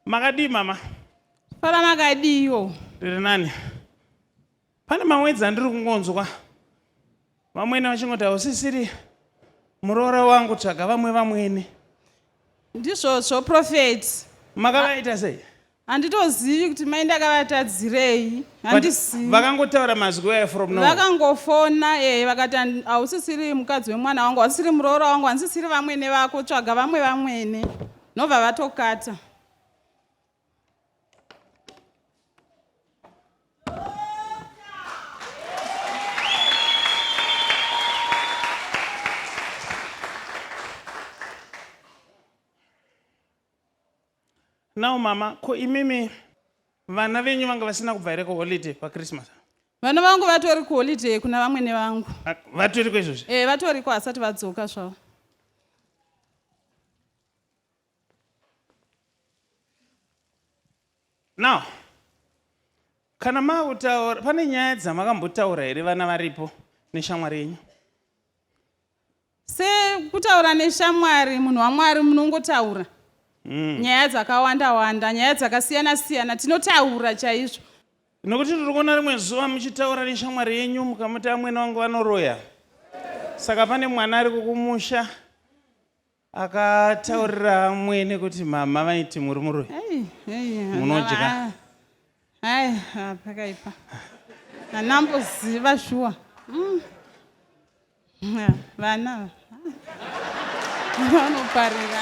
Makadii mama? Papa makadiiwo? Ndiri nani. Pane mamwedzi andiri kungonzwa vamwene vachingoti hausisiri muroora wangu tsvaga vamwe vamwene. Ndizvozvo prophet. Makavaita sei? Handitozivi kuti mai ndakavatadzirei. Handizivi. Vakangotaura mazwi waya from now. Vakangofona eh vakati hausisiri mukadzi wemwana wangu, hausisiri muroora wangu, hausisiri vamwene vako, tsvaga vamwe vamwene. nobva vatokata now mama ko imimi vana venyu vanga vasina kubva here kuholiday pachristmas Vana vangu vatori kuholiday kuna vamwene vangu. Ah, vatoriko izvozvi? Eh, vatoriko hasati vadzoka zvavo. Now, kana makutaura pane nyaya dzamakambotaura here vana varipo neshamwari yenyu? sekutaura neshamwari munhu wamwari munongotaura mm. nyaya dzakawanda wanda nyaya dzakasiyana siyana tinotaura chaizvo nokuti tiri kuona rimwe zuva muchitaura neshamwari yenyu mukamuti amwene wangu vanoroya saka pane mwana ari kukumusha Akataurira amwene kuti mama vaiti muri muroi. Munodya. Hai, pakaipa. Anamboziva shuwa. Mm. Vana. Vanoparira.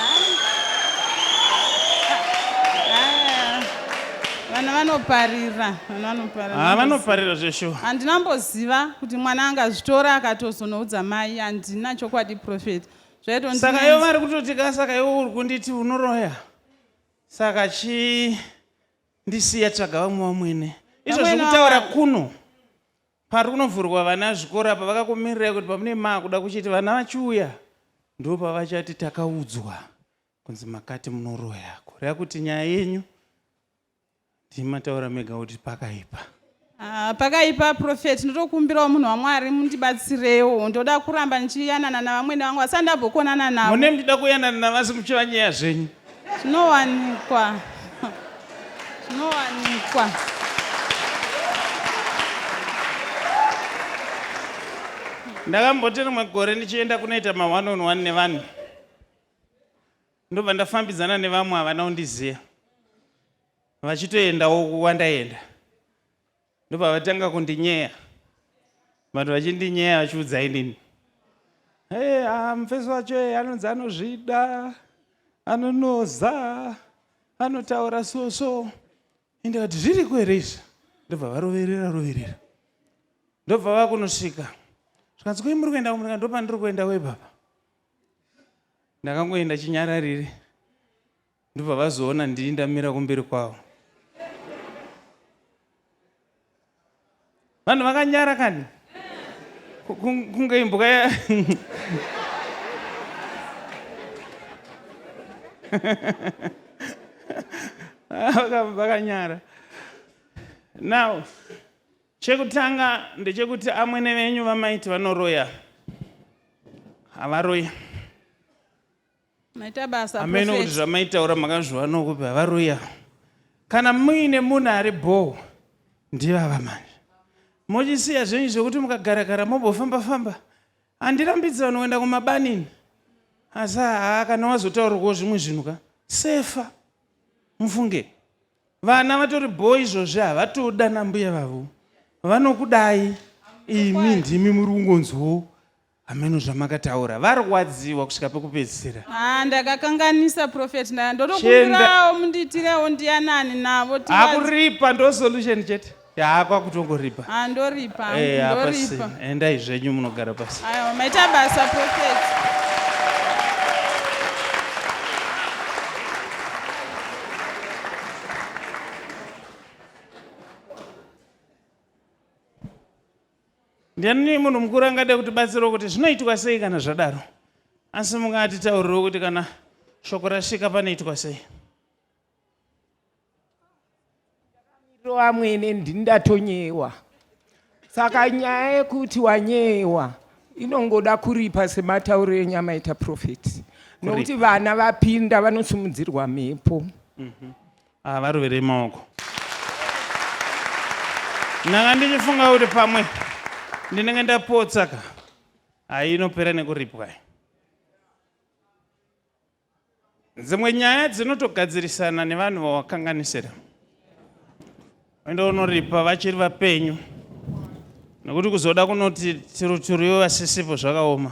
vana vanoparira vana vanoparira ha ah, vanoparira zveshuwa handinamboziva kuti mwana angazvitora akatozonoudza mai handina chokwadi profeti zvaitonzi saka ivo vari kutoti ka saka ivo uri kunditi unoroya saka chii ndisiya tsvaga vamwe vamwene izvo zvekutaura kuno pari kunovhurwa vana zvikoro apa vakakumirirai kuti pamune maakuda kuchiti vana vachiuya ndo pavachati takaudzwa kunzi makati munoroya kureva kuti nyaya yenyu ndimi mataura mega kuti pakaipa ah, pakaipa profet ndotokumbirawo munhu wamwari mundibatsirewo ndoda kuramba ndichiyanana navamwene vangu asi andambokonana navo mune mndida kuyanana navasi muchiva nyaya zvenyu zvinowanikwa zvinowanikwa ndakamboti rimwe gore ndichienda kunoita ma1 on 1 nevanhu ndobva ndafambidzana nevamwe havana kundiziva vachitoendawo kuwandaenda ndobva vatanga kundinyeya vanhu vachindinyeya vachiudza inini hey, ah, mufesi wacho e anonzi anozvida anonoza anotaura so so ndikati zviriko here izvi ndobva varoverera roverera ndobva vakunosvika zvikanzi koi muri kuenda kumurika ndopandiri kuenda webaba ndakangoenda chinyararire ndobva vazoona ndini ndamira kumberi kwavo vanhu vakanyara kani kunge imbuka ya vakanyara now Chekutanga ndechekuti amwene venyu vamaiti vanoroya havaroyi. Maita basa Hameno kuti zvamaitaura makazviwanawo kupi havaroya. Kana muine munhu ari bhoo ndivava manje. Mochisiya zvenyu zvekuti mukagarakara mobofamba famba. Handirambidzi vanhu kuenda kumabanini. Asi haa kana wazotaurwawo zvimwe zvinhu ka sefa. Mufunge. Vana vatori bho izvozvi havatodi ana mbuya vavo vanokudai imi ndimi muri kungonzwawo hameno zvamakataura varwadziwa kusvika pekupedzisira Ah, ndakakanganisa prophet ndaya ndotokumbirawo mundiitirewo ndiyanani navo tivazi- akuripa ndo solution chete yaa kwakutongoripa ah, ndoripa eh, ndoripa endai zvenyu munogara pasi aiwa maita basa prophet ndiani munhu mukuru angade kuti batsirawo kuti zvinoitwa sei kana zvadaro asi mungatitaurirewo kuti kana shoko rasvika panoitwa sei amwene ndini ndatonyewa saka nyaya yekuti wanyewa inongoda kuripa sematauro enyu amaita profeti nokuti vana vapinda vanosimudzirwa mhepo mhm. ah, varovere maoko ndanga ndichifunga kuti pamwe ndinenge ndapotsaka hayi inopera nekuripwa Dzimwe nyaya dzinotogadzirisana nevanhu vawakanganisira. Unoenda unoripa vachiri vapenyu nekuti kuzoda kunoti tiruturiwe vasisipo zvakaoma.